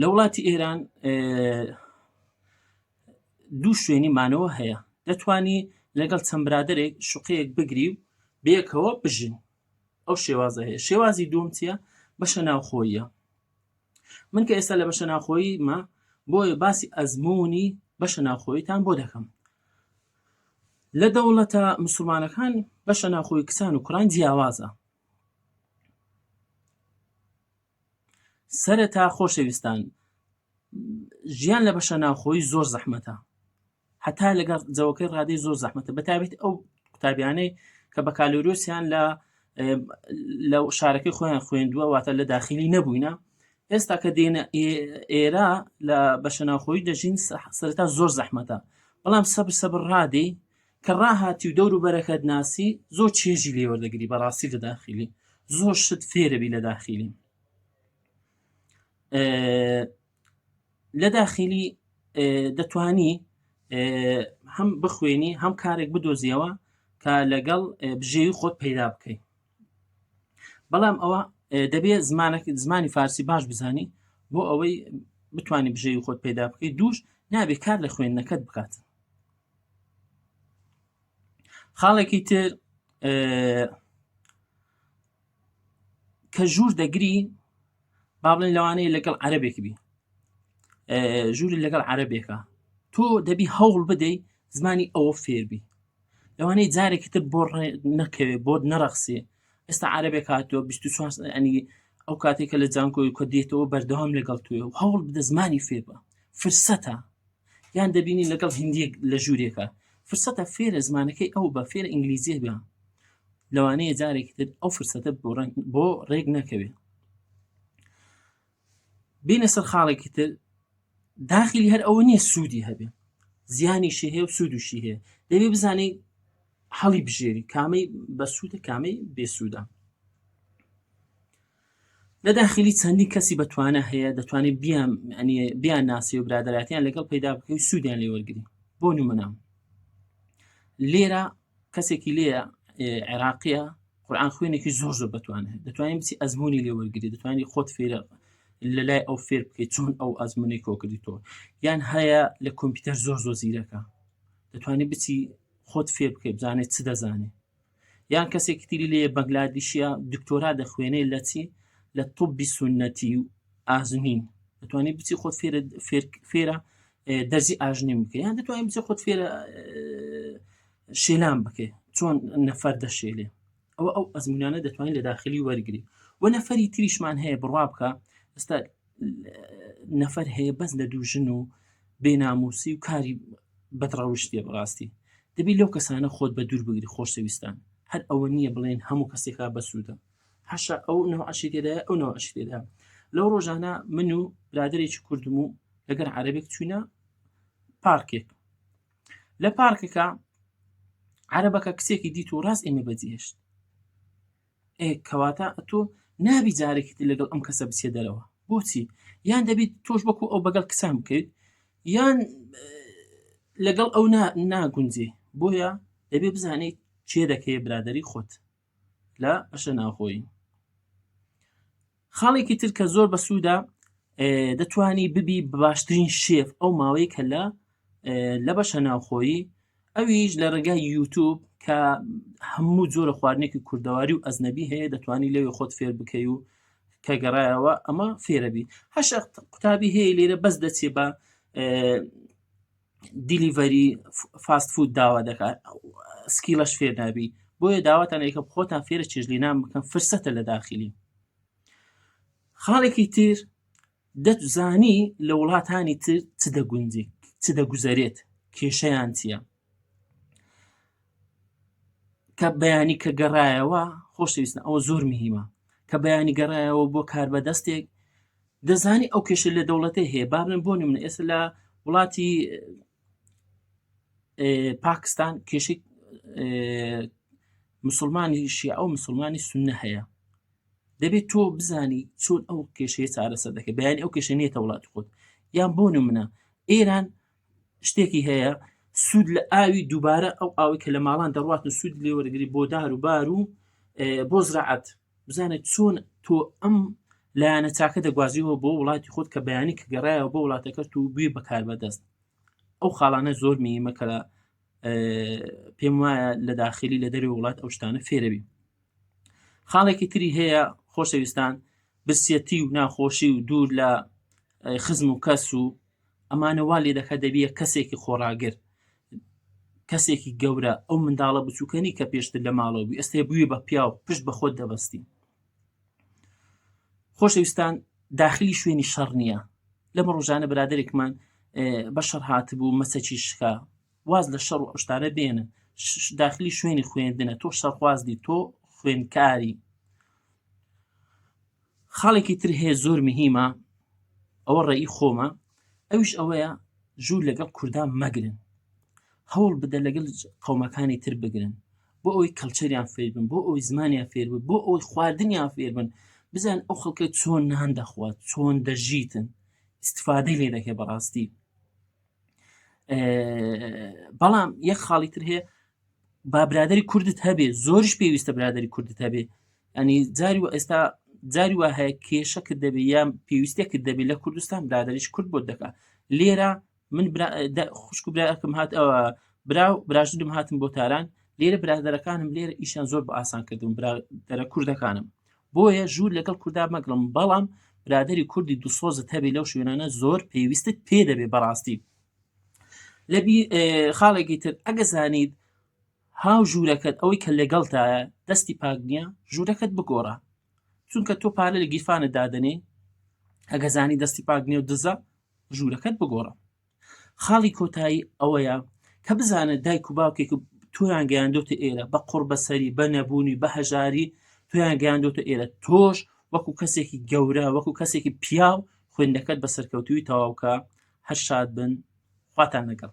لە وڵاتی ئێران دوو شوێنی مانەوە هەیە دەتانی لەگەڵ چەند برادێک شوقەیەک بگری و بێکەوە بژین ئەو شێوازە هەیە شێوازی دوم چیە بەشە ناوخۆیە من کە ئێستا لە بەشە ناخۆیی مە بۆیە باسی ئەزمموی بەشە ناوخۆیتان بۆ دەکەم لە دەوڵەتە مسلمانەکان بەشە ناخۆی کچان و کوڕان جیاوازە سەرەتا خۆشەویستان ژیان لە بەشە ناوخۆی زۆر زەحمەتە هەتا لەگەڵ جەوەکەی ڕادەی زۆر زەحمەتە بەتابێت ئەو قوتابیانەی کە بە کالۆریۆسیان لە لە شارەکەی خۆیان خوێندووە واتە لە داخلی نەبووینە ئێستا کە دێنە ئێرە لە بەشە ناوخۆی دەژین سەرتا زۆر زەحمەتە بەڵام سەبر سەبر ڕادەی کە ڕاهاتی و دەور و بەرەکەت ناسی زۆر چێژی لێوە دەگری بەڕاستی لە داخلی زۆر شت فێرەبی لە داخلی لە داخلی دەتانی هەم بخوێنی هەم کارێک بدۆزیەوە کە لەگەڵ بژێوی خۆت پەیدا بکەیت بەڵام ئەوە دەبێت زمانەکە زمانی فارسی باش بزانی بۆ ئەوەی بتانی بژێوی خۆت پەیدا بکەیت دووش نابێت کار لە خوێندنەکەت بکات خاڵێکی تر کە ژوور دەگری با بڵێن لەوانەیە لەگەڵ عەربێک بی ژووری لەگەڵ عەربێکە تۆ دەبی هەوڵ بدەیت زمانی ئەوە فێربی لەوانەیە جارێکی تر بۆ نەکەوێت بۆت نەرەخسێ ئێستا عربێک هاتووە 24 ئەنی ئەو کاتێکە لە جانکۆی کە دێتەوە بەردەوام لەگەڵ توێ و هەوڵ بدە زمانی فێبە فرسەتە یان دەبینی لەگەڵ هندیەک لە ژوورێکە فرسەتە فێرە زمانەکەی ئەو بە فێر ئینگلیزیە بە لەوانەیە جارێکی تر ئەو فرسەتە بۆ ڕێک نەکەوێت بینە سەر خاڵێکی تر داخلی هەر ئەوە نییە سوودی هەبێ زیانیشی هەیە و سوودشی هەیە دەبێ بزانانی هەڵی بژێری کامەی بە سوودە کامەی بێسوودە لە داخلی چەندین کەسی بەتوانە هەیە دەتوانێت بیان بیان ناسی و برادایەتیان لەگەڵ پیدا بکەی سوودیان لێ وەرگری بۆ نمونام لێرە کەسێکی لێ عێراقیە قورآان خوێنێکی زۆر زۆر بتوانێت دەتوانین بچی ئەزمموی لێ وەرگری دەتوانانی خۆت فێرە لە لای ئەو فێر بکەیت چۆن ئەو ئەزمموی کۆکردی تۆ یان هەیە لە کۆمپیوتەر زۆر زۆر زیرەکە دەتوانانی بچی خۆت فێر بکەیت بزانێت چ دەزانێت یان کەسێکی تری لێ بەنگلادیشە دکتۆرا دەخوێنێ لە چی لە طبی سنەتی و ئازمین دەتوانانی بچی خۆت فێرە دەرزی ئاژنیم بکە یان دەتوانین بچێ خۆت فێرە شێلان بکەێ چۆن نەفەر دەشێلێ ئەوە ئەو ئەزمونانە دەتوانین لە داخلی وەرگری و نەفەری تریشمان هەیە بڕوا بکە ئستا نەفەر هەیە بەس لە دوو ژن و بێناموسی و کاری بەدڕەوشتێ بڕاستی دەبی لەو کەسانە خۆت بە دوور بگری خۆشەویستان هەر ئەوە نییە بڵێن هەموو کەسێکا بەسوودە حەشە ئەو نەوە عەشی تێدایە ئەو نەوە عەشی تێدا لەو ڕۆژانە من و برادێکی کوردم و لەگەر عەربێک چوینە پارکێک لە پارکەکە عەربەکە کچێکی دیت و ڕاست ئێمە بەجێشت ئێ کەواتە ئەتۆ نابی جارێکیت لەگەڵ ئەم کەسە بچێ دەرەوە بۆچی یان دەبیت تۆش بەکو ئەو بەگەڵ کچان بکەیت یان لەگەڵ ئەو ناگونجێ بۆیە دەبێ بزانیت چێ دەکەی برادری خۆت لە بەشە ناوخۆی خاڵێکی تر کە زۆر بەسوودا دەتانی ببی باشترین شێف ئەو ماوەی کە لە لە بەشە ناوخۆیی ئەویش لە ڕێگای یوتوب کە هەموو جۆرە خواردنێکی کوردەواری و ئەزنەبی هەیە دەتوانانی لەوێ خۆت فێر بکەی و کە گەڕایەوە ئەمە فێرەبی هەش قوتابی هەیە لێرە بەس دەچێ بە دیلیڤەری فاست فود داوا دەکات سکیلەش فێر نابی بۆیە داواتان یکە خۆتان فێرە چێژلی نام بکەن فرسەتە لە داخلی خاڵێکی تر دەتزانی لە وڵاتانی تر چ دەگونجی چ دەگوزارێت کێشەیان چییە کە بەیانی کە گەڕایەوە خۆشەویستە ئەوە زۆر مهمە کە بەیانی گەڕایەوە بۆ کار بەدەستێک دەزانی ئەو کێشە لە دەوڵەتە هەیە بابن بۆ نمونە ئێستا لە وڵاتی پاکستان کێشی مسلمانی شیع ئەو مسلمانی سنە هەیە دەبێت تۆ بزانی چۆن ئەو کێشەیە چارەسەر دەکە بەیان ئەو کێشە نیە وڵات خۆت یان بۆ نمونە ئێران شتێکی هەیە سوود لە ئاوی دووبارە ئەو ئاوی کە لە ماڵان دەڕاتن سوود لێوەرگری بۆ دار و بار و بۆ زراعەت بزانە چۆن تۆ ئەم لایەنە چاکە دەگوازیەوە بۆ وڵاتی خۆت کە بەیانی کە گەڕایەوە بۆ وڵاتەکەت و گوێ بەکار بەدەست ئەو خاڵانە زۆر میمە کە پێم وایە لە داخلی لە دەری وڵات ئەو شتانە فێرەبی خاڵێکی تری هەیە خۆشەویستان برسیەتی و ناخۆشی و دوور لە خزم و کەس و ئەمانە وا لێ دەکات دەبیە کەسێکی خۆڕاگر کەسێکی گەورە ئەو منداڵە بچووکەنی کە پێشتر لە ماڵەوە بوو ئێستا بووی بە پیاو پشت بە خۆت دەبستی خۆشەویستان داخلی شوێنی شەڕ نییە لەمە ڕۆژانە برادێکمان بە شەڕ هاتبوو مەسەکی شکا واز لە شەڕ و ئەشتانە بێنن داخلی شوێنی خوێندنە تۆ شەڕخوازدی تۆ خوێندکاری خاڵێکی تر هەیە زۆر مهمە ئەوە ڕێی خۆمە ئەوش ئەوەیە ژوور لەگەڵ کوردان مەگرن هەوڵ بدە لەگەڵ قومەکانی تر بگرن بۆ ئەوی کەلچەریان فێربن بۆ ئەوی زمانیان فێربن بۆ ئەوی خواردنیان فێربن بزان ئەو خەڵکە چۆن نان دەخوات چۆن دەژیتن استفادەی لێ دەکە بەڕاستی بەڵام یەک خاڵی تر هەیە با برادری کوردت هەبێ زۆرش پێویستە برادری کوردت هەبێ ئەنی جاری و ئێستا جاری وا هەیە کێشەکرد دەبێ یان پێویستێکرد دەبێت لە کوردستان برادریش کورد بۆ دەکات لێرە من خوشک و براکەم هات ئەوە برا و براژدم هاتم بۆ تاران لێرە برادەرەکانم لێرە ئیشان زۆر بە ئاسان کردم برادەرە کوردەکانم بۆیە ژوور لەگەڵ کوردا مەگرم بەڵام برادری کوردی دوسۆزت هەبێ لەو شوێنانە زۆر پێویستت پێ دەبێ بەڕاستی خاڵێکی تر ئەگە زانیت هاو ژوورەکەت ئەوەی کە لەگەڵتایە دەستی پاک نییە ژوورەکەت بگۆڕە چونکە تۆ پارە لە گیرفانە دادنێ ئەگە زانی دەستی پاک نیێ و دزە ژوورەکەت بگۆڕە خاڵی کۆتایی ئەوەیە کە بزانە دایک و باوکێک تۆیان گەیاندۆتە ئێرە بە قڕ بەسەری بە نەبوونی بە هەژاری تۆیان گەیاندۆتە ئێرە تۆش وەکو کەسێکی گەورە وەکو کەسێکی پیاو خوێندەکەت بە سەرکەوتوی تەواوکە هەر شاد بن خواتان لەگەڵ.